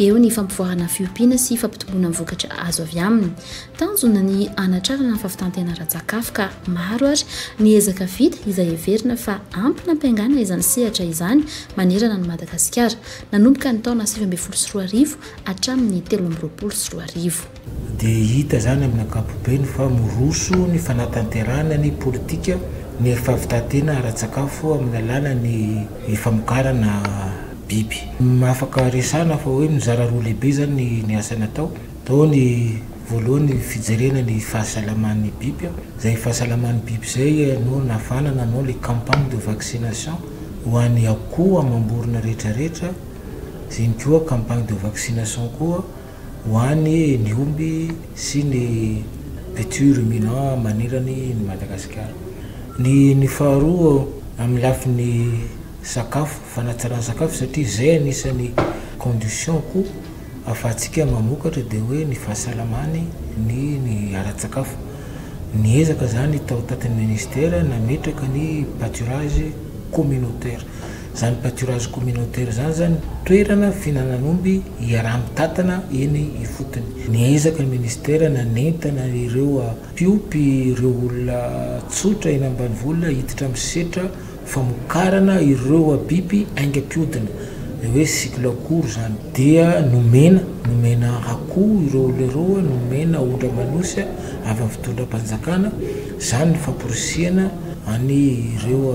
Eo ny fampivoarana fiompiana sy fampitomboana ny vokatra azo avy aminy. Tanjona ny hanatrarana ny fahavitan-tena ara-tsakafo ka maro ary ny ezaka vita izay heverina fa ampy nampiangana izany sehatra izany manerana an'i Madagasikara nanomboka ny taona sivy ambin'ny folo sy roa arivo hatramin'ny telo amby roapolo sy roa arivo. Dia hita izany amin'ny ankapobeny fa miroso ny fanatanterahana ny politika ny fahavitan-tena ara-tsakafo amin'ny alalan'ny famokarana biby. Afaka resahana fa hoe mizara roa lehibe izany ny asa natao. Tao ny voalohany fijerena ny fahasalaman'ny biby, izay fahasalaman'ny biby izay no nafana nanao ilay campagne de vaccination ho an'ny akoho amam-borona rehetrarehetra, izay ihany koa campagne de vaccination koa. ho any ny omby sy ny culture ruminant manerany ny Madagasikara. Ny ny faharoa amin'ny lafiny sakafo, fanatsarana sakafo satria izay anisan'ny condition ko afahantsika mamokatra dia hoe ny fahasalamany ny ny ara-tsakafo. Niezaka izany tao tatin'ny ministera nametraka ny pâturage communautaire. Izany pâturage communautaire izany izany toerana fihinanan'omby iaraha-mitantana eny ifotony. Niezaka ny minisitera nanentana ireo mpiompy ireo olona tsotra eny ambanivohitra hiditra amin'ny setra famokarana ireo biby aingam-piodina, ilay hoe cycle court izany. Dia nomena, nomena akoho ireo olona ireo, nomena ondraman'osy avy amin'ny fitondram-panjakana. Izany ny famporisihana an'ireo.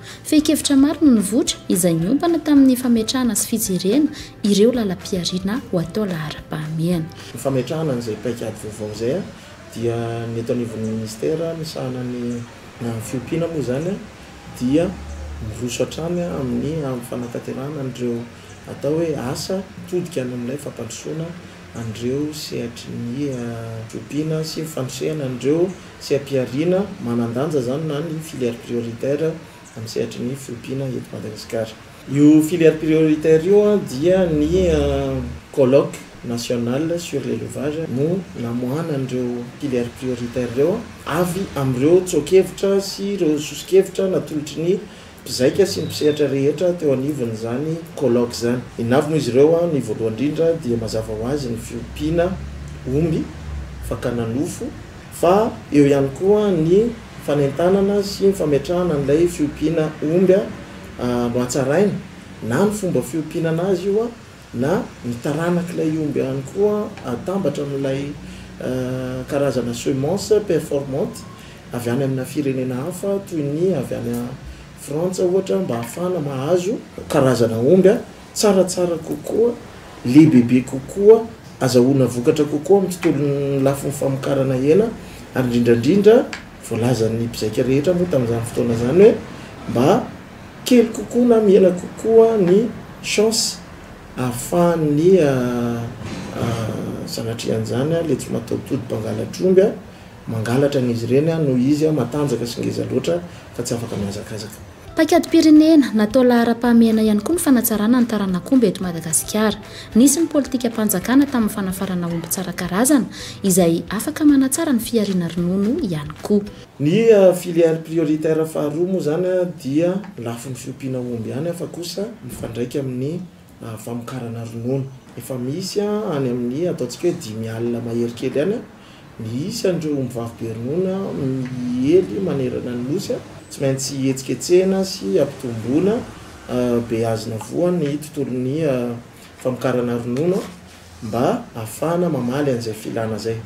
Fehin-kevitra maro no nivoitra, izay niompana tamin'ny fametrahana sy fijerena ireo lalam-pihariana ho atao laharam-pahamehana. Ny fametrahana an'izay paikady vaovao izay dia ny eto anivon'ny Minisitera misahana ny na ny fiompiana moa izany dia miroso hatrany amin'ny amin'ny fanatanterahana an'ireo atao hoe asa todika any amin'ilay fampandrosoana an'ireo sehatry ny fiompiana sy ny fandrisihana an'ireo Tsy ampiharina manan-danja zany na ny filière prioritaire amin'ny sehatry ny fiompiana eto Madagasikara. Io filière prioritaire io dia ny colloque national sur l'élevage no namoahana an'ireo filières prioritaires ireo avy amin'ireo tsoa-kevitra sy ireo soso-kevitra natolotry ny Mpizaika sy ny mpisehatra rehetra teo anivon'izany colloque izany. I Navy moa izy ireo ny voalohany indrindra dia mazava ho azy ny fiompiana omby, fakana nofo, fa eo ihany koa ny fanentanana sy ny fametrahana an'ilay fiompiana omby no hatsaraina na ny fomba fiompiana an'azy io na ny taranak'ilay omby ihany koa atambatra amin'ilay karazana semence performante avy any amina firenena hafa toy ny avy any Frantsa ohatra mba hahafahana mahazo karazana omby tsaratsara kokoa, lehibebe kokoa, azahoana vokatra kokoa amin'ny tontolon'ny lafiny famokarana hena ary indrindra indrindra voalazan'ny mpizaika rehetra moa tamin'izany fotoana izany hoe mba. Kely kokoa na miela kokoa ny chance ahafahan'ny zanatrian'izany ilay tsy mataho-tody mpangalatra omby mangalatra an'izy ireny noho izy matanjaka sy ngeza loatra ka tsy afaka mihazakazaka. Paikadim-pirenena, natao laharam-pahamehana ihany koa ny fanatsarana ny taranak'omby eto Madagasikara. Nisy ny politikam-panjakana tamin'ny fanafarana omby tsara karazana izay afaka manatsara ny fihariana ronono ihany koa. Ny filière prioritaire faharoa moa izany dia lafiny fiompiana omby ihany fa kosa mifandraika amin'ny famokarana ronono. Efa misy any amin'ny ataontsika hoe dimy alina mahery kely any ny isan'ireo omby vavy be ronono miely manerana ny Nosy. Tsy maintsy hetsiketsehina sy ampitomboina, beazina voa ny tontolon'ny famokarana ronono. mba afahana mamaly an'izay filana zay.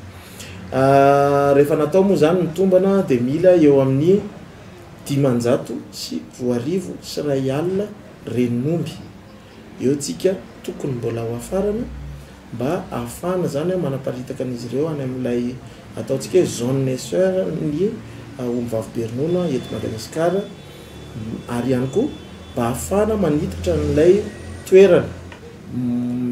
Rehefa natao moa zany ny tombana dia mila eo amin'ny dimanjato sy roa arivo sy iray alina ren'omby eo tsika tokony mbola ho afarana mba afahana zany manaparitaka an'izy ireo any amin'ilay ataontsika hoe zone essor ny omby vavy be ronono eto Madagasikara. ary ihany koa mba ahafahana manitatra an'ilay toerana.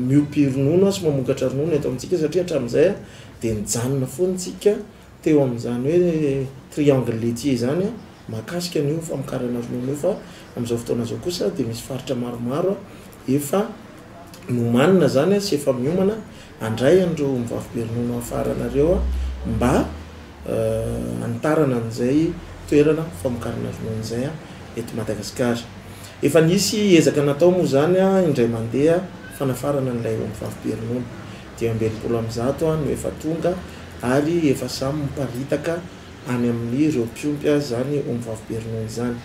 Miompy ronono sy mamokatra ronono eto amintsika satria hatramin'izay dia nijanona foana isika teo amin'izany hoe triangle laitier izany mahakasika an'io famokarana ronono io fa amin'izao fotoana izao kosa dia misy faritra maromaro efa Nomanina zany a sy efa miomana handray an'ireo ombivavy be ronono hafarana ireo a mba hanitarana an'izay toerana famokarana ronono izay a eto Madagasikara. Efa nisy ezaka natao moa izany a indray mandeha fanafarana an'ilay ombivavy be ronono. Dimy amby enimpolo amin'ny zato a no efa tonga ary efa samy miparitaka any amin'ireo mpiompy izany ombivavy be ronono izany.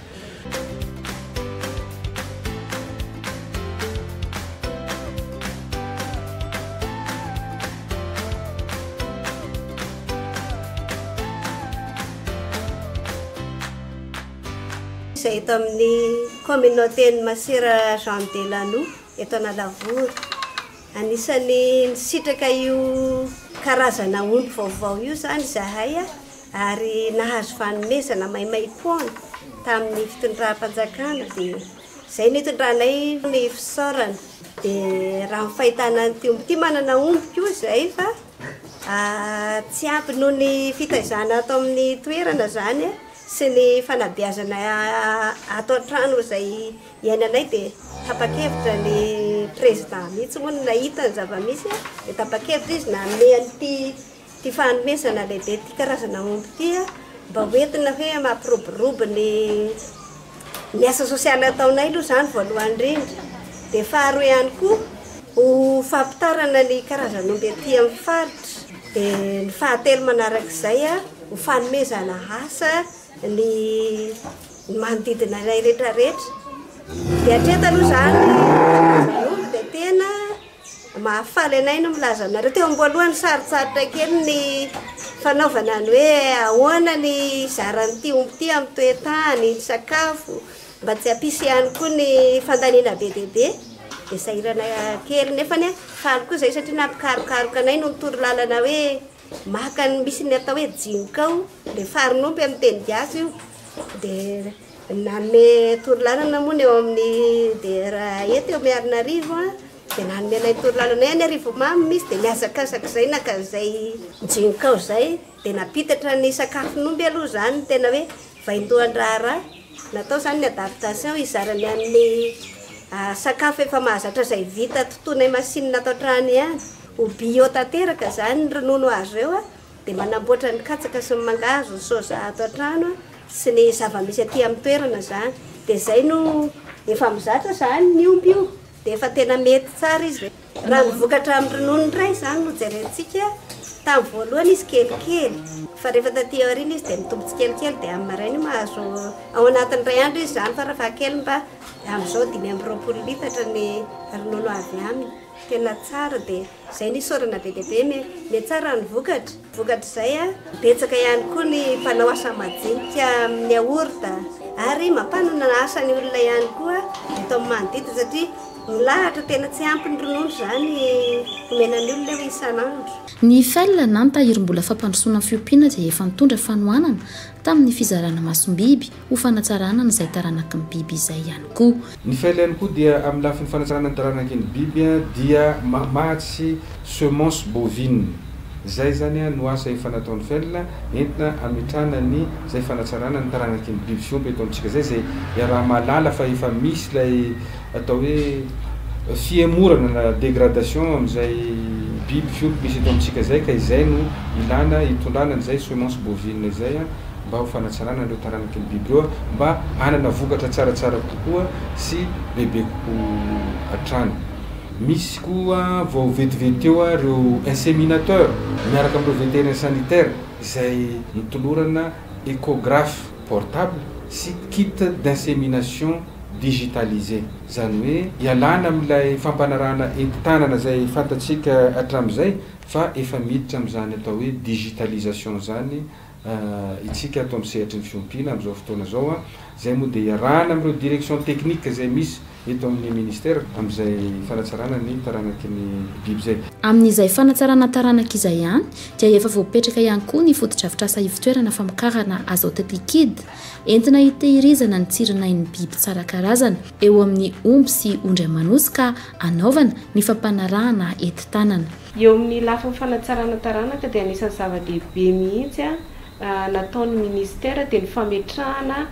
izay eto amin'ny kaominauten'i Masera Jean Delanoux eto Analavory. Anisan'ny nisitraka io karazana omby vaovao io izany izahay ary nahazo fanomezana maimaim-poana tamin'ny fitondram-panjakana dia izay no itondranay ny fisaorana dia raha ny fahitana an'ity omby ity manana omby koa izay fa tsy ampy noho ny fitaizana ato amin'ny toerana izany sy ny fanabeazana ato an-trano izay iainanay dia tapa-kevitra ny président mihitsy moa no nahita ny zava-misy dia tapa-kevitra izy nanome an'ity Ity fanomezana lehibe ity karazana omby ity mba ho entina hoe mampiroborobo ny ny asa sosialy ataonay aloha izany voalohany indrindra, dia faharoa ihany koa ho fampitarana ny karazan'omby aty amin'ny faritra, dia ny fahatelo manarak'izay ho fanomezana asa ny ny manodidina anay rehetra rehetra, dia hatreto aloha izany ny karazan'omby dia tena. Mahafaly anay ny milaza aminareo. Teo am-boalohany sarotsarotra kely ny fanaovana ny hoe ahoana ny hizaran'ity omby ity amin'ny toe-tany, ny sakafo, mba tsy hampisy ihany koa ny fandaniana be dia be. Dia sahirana kely nefa anie faly koa izay satria nampikarokaroka anay no nitory lalana hoe maka ny misy ny atao hoe jinkao, dia farin'omby amin'ny teny gasy io. Dia Nanome torolalana moa ny eo amin'ny DR eto eo Miarinarivo dia nanome anay torolalana hoe any Arivomamy misy dia nihazakazaka izay naka izay jinkao izay dia nampitatra ny sakafon'omby aloha izany tena hoe vaindohan-draharaha natao izany ny adaptation hizarany amin'ny sakafo efa mahazatra izay vita tontonay masinina ato an-trano ihany ho bio tanteraka izany ronono azo eo a. Dia manamboatra ny katsaka sy ny mangahazo, ny soja ato an-trano sy ny zava-misy aty amin'ny toerana izany. Dia izay no efa mizatra izany ny omby io, dia efa tena mety tsara izy. Raha ny vokatra amin'ny ronono indray izany no jerentsika, tamin'ny voalohany izy kelikely, fa rehefa taty aoriana izy dia mitombo tsikelikely, dia amin'ny maraina io mahazo, ao anatin'ny iray andro izy izany fara fahakeliny mba, amin'izao dimy amby roapolo litatra ny ronono avy aminy. Tena tsara dia. Izay no isaorana be dia be, mihatsara ny vokatra. Vokatr'izay, betsaka ihany koa ny mpanao asa majinika amin'ny yaourt ary mampanana asa ny olona ihany koa eto amin'ny manodidina satria milahatra, tena tsy ampy ny ronono izany omena ny olona eo isan'andro. Ny IFEL na ny Tahirimbola Fampandrosoana ny Fiompiana izay efa nitondra fanohanana tamin'ny fizarana masom-biby, Ho fanatsarana an'izay taranaky ny biby izay ihany koa. Ny fel ihany koa dia amin'ny lafiny fanatsarana ny taranaky ny biby dia mamatsy semence bovine. Izay izany no asa efa nataon'ny fel entina hametrahana ny izay fanatsarana ny taranaky ny biby fiompy eto amintsika izay izay iaraha-mahalala fa efa misy ilay atao hoe fihemorana na dégradation amin'izay biby fiompy misy eto amintsika izay ka izay no ilana hitondrana an'izay semence bovine izay. mba ho fanatsarana an'ireo taranaky ny biby ireo mba hanana vokatra tsaratsara kokoa sy bebe kokoa hatrany. Misy koa vao vetivety teo ireo inséminateur miaraka amin'ireo vétérien sanitaire izay notolorana échographe portable sy kit d'insémination digitalisé. Izany hoe ialana amin'ilay fampanarahana entin-tanana izay fantatsika hatramin'izay fa efa miditra amin'izany atao hoe digitalisation izany Isika ato amin'ny sehatry ny fiompiana amin'izao fotoana izao, izay moa dia iarahana amin'ireo direction technique izay misy eto amin'ny ministera amin'izay fanatsarana ny taranaky ny biby izay. Amin'izay fanatsarana taranaka izay ihany dia efa voapetraka ihany koa ny fotodrafitrasa ivotoerana famokarana azote liquide entina hitehirizana ny tsirinain'ny biby tsara karazana eo amin'ny omby sy ondry aman'osy ka hanaovana ny fampanarahana enti-tanana Eo amin'ny lafiny fanatsarana taranaka dia anisan'ny zava-dehibe mihitsy nataon'ny Ministera dia ny fametrahana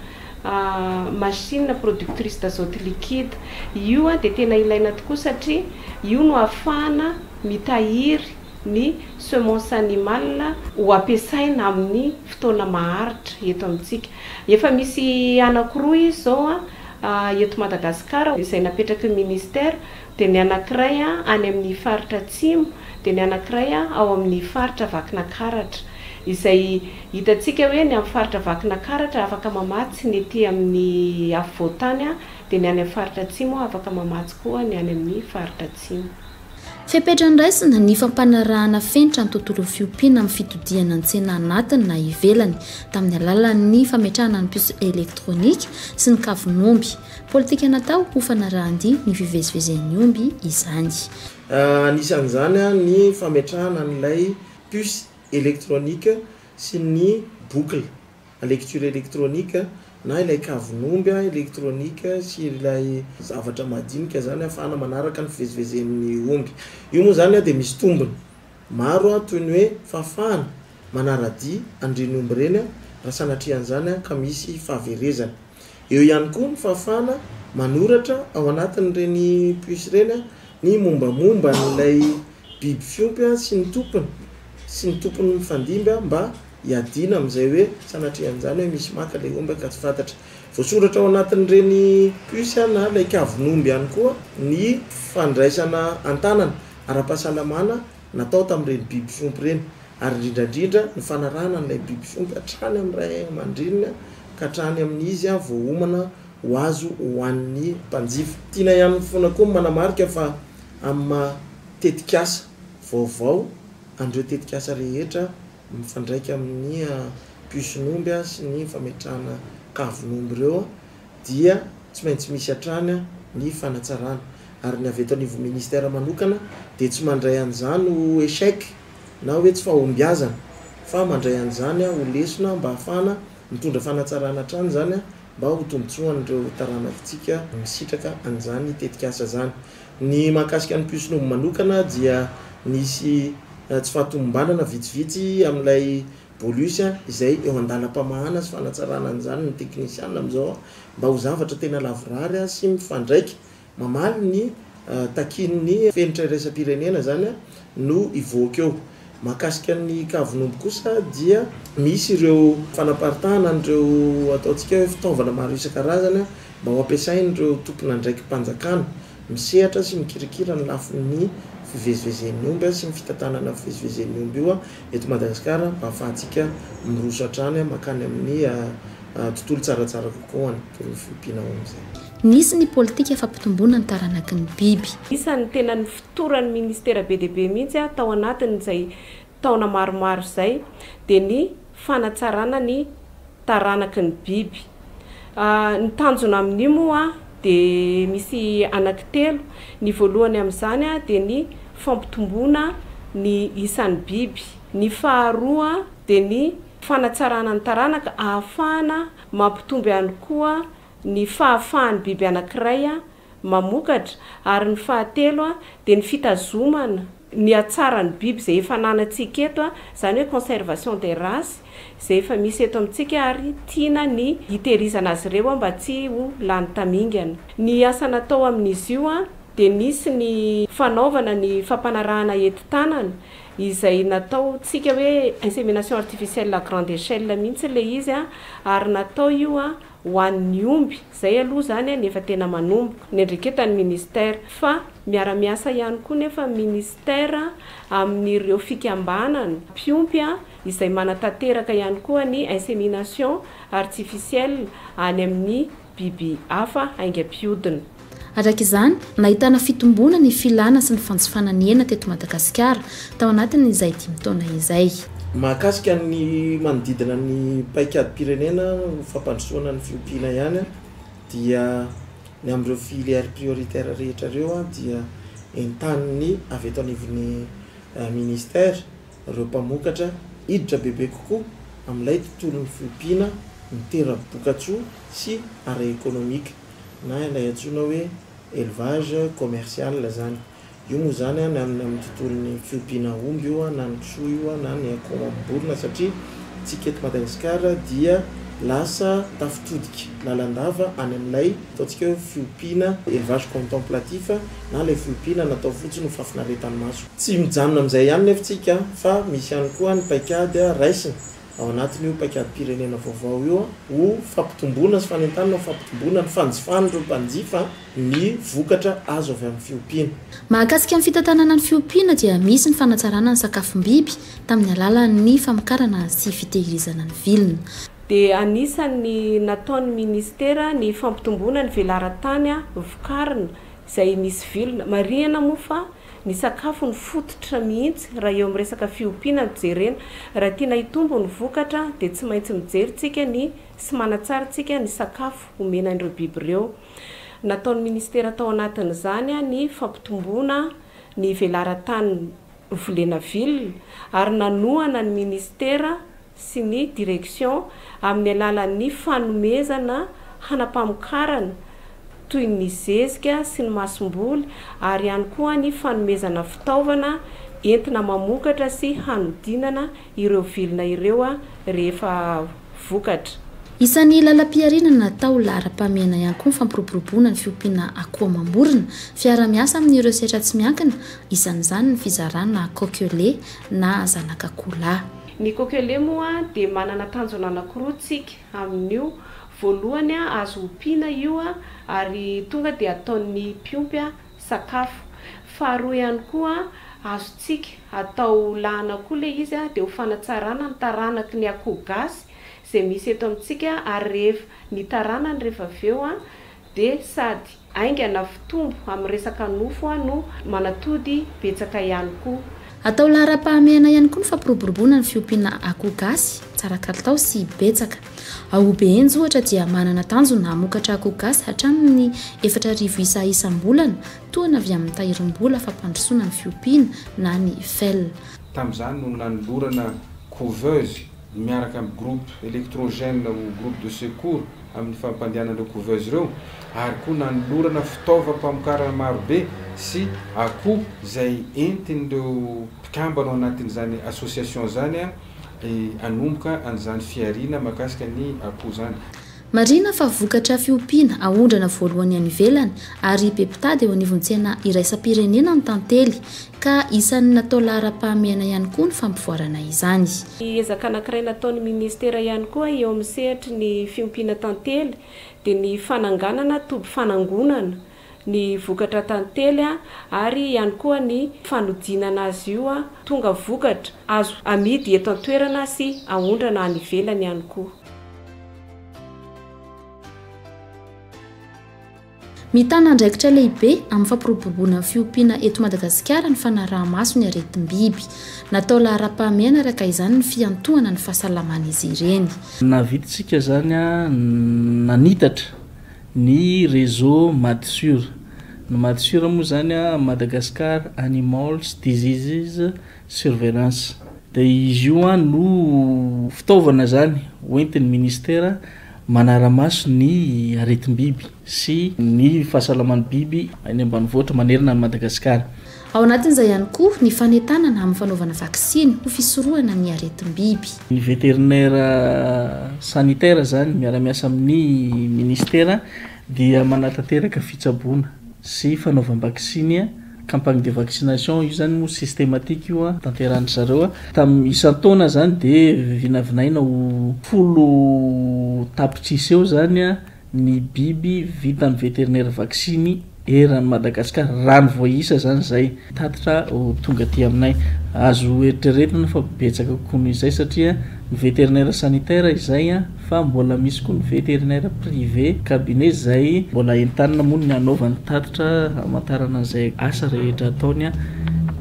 machine productrice d'azote liquide. Io dia tena ilaina tokoa satria io no ahafahana mitahiry ny semence animale ho ampiasaina amin'ny fotoana maharitra eto amintsika. Efa misy anankiroa izy izao eto Madagasikara izay napetraky ny Ministera dia ny anankiray any amin' ny faritra atsimo, dia ny anankiray ao amin' ny faritra Vakinakaratra. Izay hitantsika hoe ny amin'ny faritra Vakinakaratra afaka mamatsy ny ety amin' ny afovoan-tany, dia ny any amin'ny faritra atsimo afaka mamatsy koa ny any amin' ny faritra atsimo. Fepetra andraisana ny fampanarahana fenitra ny tontolon'ny fiompiana amin'ny fitodihana an-tsena anatiny na ivelany, tamin'ny alalan'ny fametrahana ny puce elektronika sy ny kavon'omby, Politika natao ho fanarahan-dia ny fivezivezen'ny omby izany. Anisan'izany ny fametrahana an'ilay puce électronique sy ny boucle à lecture électronique na ilay kavon'omby électronique sy ilay zavatra madinika izany ahafahana manaraka ny fivezivezen'ny omby. Io moa izany dia misy tombony. Maro an toy ny hoe fahafahana manaradia andrian'omby ireny an raha sanatria an'izany an ka misy fahaverezana. Eo ihany koa ny fahafahana manoratra ao anatin'ireny puce ireny an ny mombamomba an'ilay biby fiompy an sy ny tompony sy ny tompony mifandimby an mba hiadiana amin'izay hoe sanatria an'izany hoe misy maka ilay omby an ka tsy fantatra. Voasoratra ao anatin'ireny puce an na ilay kavon'omby ihany koa ny fandraisana an-tanana. ara-pahasalamana natao tamin'ireny biby fiompy ireny, ary indrindra indrindra ny fanarahana an'ilay biby fiompy hatrany amin'ny ray aman-dreniny ka hatrany amin'ny izy vao homana ho azo hohanin'ny mpanjifa. Tiana ihany foana koa ny manamarika fa amin'ny maha tetikasa vaovao an'ireo tetikasa rehetra mifandraika amin'ny mpisonomby sy ny fametrahana kavon'omby ireo dia tsy maintsy misy hatrany ny fanatsarana ary ny avy eto anivon'ny ministère manokana dia tsy mandray an'izany ho échec na hoe tsy fahombiazana fa mandray an'izany ho lesona mba hahafahana mitondra fanatsarana hatrany izany mba ho tombontsoan'ireo taranakintsika misitraka an'izany tetikasa izany. Ny mahakasika ny Puissnobmanokana dia nisy tsy fahatomombanana vitsivitsy amin'ilay Bolus a, izay eo an-dalam-pamahana sy fanatsarana an'izany ny teknisiana amin'izao mba ho zavatra tena lavorary sy mifandraika, mamaly ny takian'ny fenitra iraisam-pirenena izany no hivoaka eo. Mahakasika ny kavon'omby kosa dia misy ireo fanaparitahana an'ireo ataontsika hoe fitaovana maro isan-karazany mba ho ampiasain'ireo tompon'andraiki-panjakana misehatra sy mikirakira ny lafiny fivezivezen'ny omby sy ny fitantanana fivezivezen'ny omby io Eto Madagasikara, ahafahantsika miroso hatrany mankany amin'ny tontolo tsaratsara kokoa ho an'ny porofo binao amin'izay. Nisy ny politika fampitomboana ny taranaky ny biby. Isan'ny tena nifotoran'ny ministera be dia be mihitsy tao anatin'izay taona maromaro izay dia ny fanatsarana ny. taranaky ny biby. Ny tanjona amin'io moa dia misy anaky telo, ny voalohany amin'izany dia ny fampitomboana ny isan'ny biby, ny faharoa dia ny fanatsarana ny taranaka ahafahana mampitombo ihany koa ny fahafahan'ny biby anankiray mamokatra ary ny fahatelo dia ny fitazomana ny hatsaran'ny biby izay efa ananantsika eto, izany hoe conservation des races izay efa misy eto amintsika ary tiana ny hitehirizana azy ireo mba tsy ho lany tamingana. Ny asa natao amin'izy io dia nisy ny fanaovana ny fampanarahana henti-tanana izay nataontsika hoe insémination artificielle à grande échelle mihitsy ilay izy ary natao io. ho an'ny omby, zay aloha zany ny efa tena manomboka, ny andreketan'ny ministera, fa miara-miasa ihany koa nefa ny ministera amin'ireo fikambanana mpiompy izay manatanteraka ihany koa ny insémination artificielle any amin'ny biby hafa haingam-piodina. Araka izany, nahitana fitomboana ny filana sy ny fanjifana ny hena teto Madagasikara, tao anatin'izay dimy taona izay. Mahakasika ny manodidina ny paikadim-pirenena ho fampandrosoana ny fiompiana ihany dia ny amin'ireo filières prioritaires rehetra ireo dia entanin'ny avy eto anivon'ny Ministère ireo mpamokatra hiditra bebe kokoa amin'ilay tontolon'ny fiompiana mitera-bokatsoa sy ara-ekonomika. na ilay antsoina hoe élevage commercial zany. Io moa zany an am am tontolon'ny fiompiana omby io an, na ny kisoa io an, na ny akôho mamim-borona satria tsika eto Madagascar dia lasa tafitodika lalandava any amin'ilay ataontsika hoe fiompiana élevage contemplatif na ilay fiompiana natao fotsiny ho fahafinaretan'ny maso. Tsy mijanona amin'izay ihany nefa tsika an, fa misy ihany koa ny paikady raisina Ao anatin'io paikadimpirenena vaovao io ho fampitomboana sy fanentanana ho fampitomboana ny fanjifan'ireo mpanjifa ny vokatra azo avy amin'ny fiompiana. Mahakasika ny fitantanana ny fiompiana dia misy ny fanatsarana ny sakafom-biby tamin'ny alalan'ny famokarana sy fitehirizana ny vilona. Dia anisan'ny nataon'ny Ministera ny fampitomboana ny velaran-tany vokarina izay misy vilona. Marihina moa fa Ny sakafo no fototra mihitsy raha eo amin'ny resaka fiompiana no jerena. Raha tiana hitombo ny vokatra dia tsy maintsy mijery tsika ny sy manatsara tsika ny sakafo omena an'ireo biby ireo. Nataon'ny Ministera tao anatin'izany ny fampitomboana ny velaran-tany volena ville ary nanohana ny Ministera sy ny direction amin'ny alalan'ny fanomezana hanampamokarana toy ny zezika sy ny masomboly ary ihany koa ny fanomezana fitaovana entina mamokatra sy hanodinana ireo vilona ireo rehefa vokatra. Isan'ny lalam-pihariana natao laharam-pahamehana ihany koa ny fampiroboroboana ny fiompiana akoho amam-borona, fiaraha-miasa amin'ireo sehatra tsy miankina, isan'izany ny fizarana coq lait na zanak'akoholahy. Ny kokele moa dia manana tanjona anankiroa tsika amin'io, voalohany azo ompiana io ary tonga dia ataon'ny mpiompy sakafo, faharoa ihany koa azontsika atao lahana koa ilay izy dia ho fanatsarana ny taranaky ny akoho gasy izay misy eto amintsika ary rehefa ny taranany rehefa avy eo Dia sady haingana fitombo amin'ny resaka nofo no manatody betsaka ihany koa. Atao laharam-pahamehana ihany koa ny fampiroboroboana ny fiompiana akoho gasy tsara kalitao sy betsaka. Ao Obehenjy ohatra dia manana tanjona hamokatra akoho gasy hatramin'ny efatra arivo isa isam-bolana, tohana avy amin'ny tahirim-bola fampandrosoana ny fiompiana na ny fel. Tamin'izany no nanolorana couveuse ny miaraka amin'ny groupe électrogène ho groupe de secours amin'ny fampandehanana ireo couveuse ireo ary koa nanolorana fitaovam-pamokarana maro be sy akoho izay entin'ireo mpikambana ao anatin'izany association izany hanomboka an'izany fihariana mahakasika ny akoho izany. Marihina fa vokatra fiompiana aondrana voalohany any ivelany ary be mpitady eo anivon'ny tsena iraisam-pirenena ny tantely, ka isan'ny natao laharam-pahamehana ihany koa ny fampivoarana izany. Ny ezaka anankiray nataon'ny Minisitera ihany koa eo amin'ny sehatry ny fiompiana tantely dia ny fananganana toby fanangonana ny vokatra tantely ary ihany koa ny fanodinana azy io tonga vokatra azo amidy eto an-toerana sy aondrana any ivelany ihany koa. Mitana andraikitra lehibe amin'ny fampiroboroboana ny fiompiana eto Madagasikara ny fanaraha-maso ny aretim-biby. Natao laharam-pahamehana araka izany ny fiantohana ny fahasalaman'izy ireny. Navidintsika izany nanitatra. Ny réseau Madsur. Ny Madsur moa izany Madagascar Animals Diseases Surveillance. Dia izy io no fitaovana izany hoentin'ny Ministera manara-maso ny aretim-biby sy ny fahasalaman'ny biby any ambanivohitra manerana an'i Madagasikara. Ao anatin'izay ihany koa ny fanentanana amin'ny fanaovana vaksiny ho fisorohana ny aretim-biby. Ny veterinaire sanitaire izany miara-miasa amin'ny Ministera dia manatanteraka fitsaboana sy fanaovam-baksiny, campagne de vaccination, io izany moa systematique io tanteran-dry zareo tamin'ny isan-taona izany dia vinavinaina ho folo tapitrisa eo izany ny biby vitan'ny vétérinaire vaksiny eran'i Madagasikara, raha ny voaisa izany izay tatitra ho tonga aty aminay. Azo eritreretina fa betsaka kokoa noho izay satria ny vétérinaire sanitaire izay fa mbola misy koa ny vétérinaire privé, cabinet, izay mbola entanina moa ny hanaovany tatitra hamantarana izay asa rehetra ataony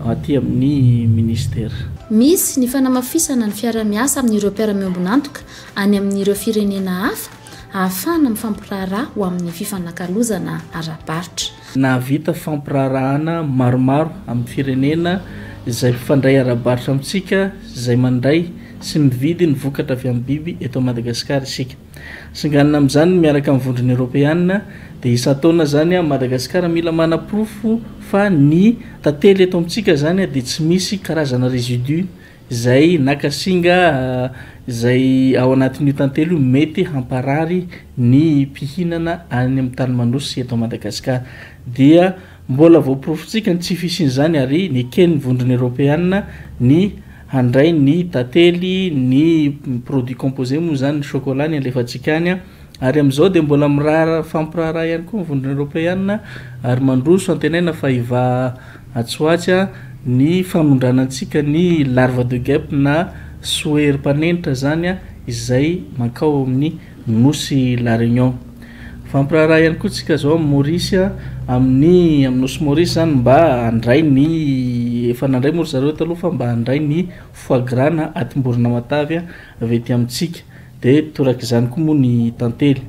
aty amin'ny Ministera. Misy ny fanamafisana ny fiarahamiasa amin'ireo mpiara-miombon'antoka any amin'ireo firenena hafa hahafahana mifampiraharaha ho amin'ny fifanakalozana ara-barotra. Nahavita fampiraharahana maromaro amin'ny firenena izay mpifandray ara-barotra amintsika izay mandray sy mividy ny vokatra avy amin'ny biby eto Madagasikara isika. Singanina amin'izany miaraka amin'ny Vondrona Eoropeana dia isan-taona izany Madagasikara mila manaporofo fa ny tantely eto amintsika izany dia tsy misy karazana résidus Izay naka singa izay ao anatin'io tantely io mety hamparary ny mpihinana any amin'ny tany manosy sy eto Madagasikara. Dia mbola voaporofontsika ny tsy fisian'izany ary neken'ny Vondrona Eropeana ny handray ny tantely, ny produits composés moa izany, ny chocolat ny alefantsika any. Ary amin'izao dia mbola miraharaha mifampiraharaha ihany koa ny Vondrona Eoropeana ary mandroso antenaina fa hivaha atsy ho atsy ny fanondrana antsika ny larva de guêpe na soery mpanenitra izany izay mankao amin'ny nosy La Réunion. Mifampiraharaha ihany koa tsika izao amin'i Maurice amin'ny amin'ny nosy Maurice izany mba handray ny efa nandray moa ry zareo taloha fa mba handray ny foie gras na atim-borona matavy avy ety amintsika. Dia toraka izany koa moa ny tantely.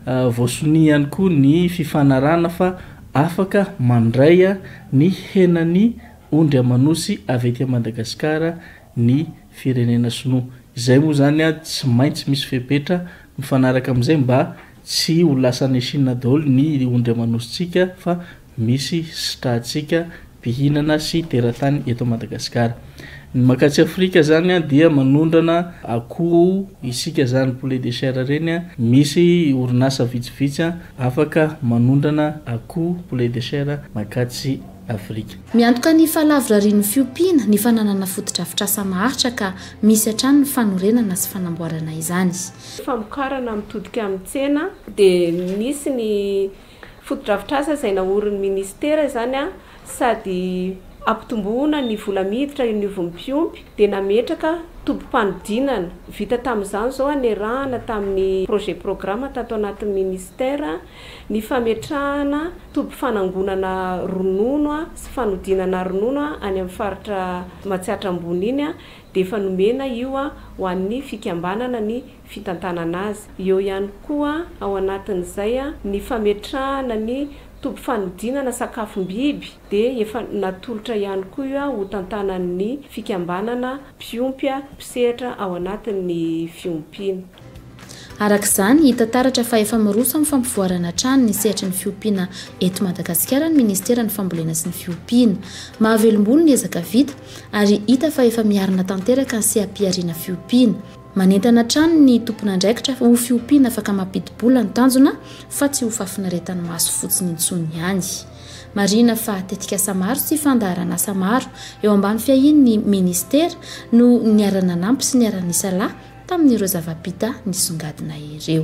Voasonia ihany koa ny fifanarahana fa afaka mandray ny henan'ny ondry aman'osy avy aty Madagasikara ny firenena sinoa. Izay moa izany tsy maintsy misy fepetra mifanaraka amin'izay mba tsy ho lasan'i Chine daholo ny ondry aman'osintsika fa misy sitrahantsika mpihinana sy teratany eto Madagasikara. Ny makattsy Afrika zany dia manondrana akoho isika zany poulet de chair ireny, misy orinasa vitsivitsy afaka manondrana akoho poulet de chair makattsy Afrika. Miantoka ny fahalavorarian'ny fiompiana ny fananana fotodrafitrasa maharitra ka misy hatrany ny fanorenana sy fanamboarana izany. Famokarana mitodika amin'ny tsena dia misy ny Fotodrafitrasa izay naorin'ny minisitera izany sady hampitomboana ny vola miditra eo anivon'ny mpiompy dia nametraka tobim-panodinana. Vita tamin'izany izao hanerahana tamin'ny projet programme tato anatin'ny minisitera ny fametrahana toby fanangonana ronono sy fanodinana ronono any amin'ny faritra Matsiatra Ambony iny dia efa nomena io ho an'ny fikambanana ny fitantanana azy. Eo ihany koa ao anatin'izay ny fametrahana ny toby fanodinana sakafom-biby dia efa natolotra ihany koa io ho tantanan'ny fikambanana mpiompy mpisehatra ao anatin'ny fiompiana. Araka izany, hita taratra fa efa miroso amin'ny fampivoarana hatrany ny sehatry ny fiompiana eto Madagasikara ny ministeran'ny fambolena sy ny fiompiana. Mahavelombolo ny ezaka vita ary hita fa efa miarina tanteraka ny seha-pihariana fiompiana. Manentana hatrany ny tompon'andraikitra ho fiompiana afaka mampidi-bola ny tanjona fa tsy ho fahafinaretan'ny maso fotsiny intsony ihany. Marihina fa tetikasa maro sy fandaharan'asa maro eo ambany fiahian'ny minisitera no niara-nanampy sy niara-nisalahy tamin'ireo zava-bita nisongadina ireo.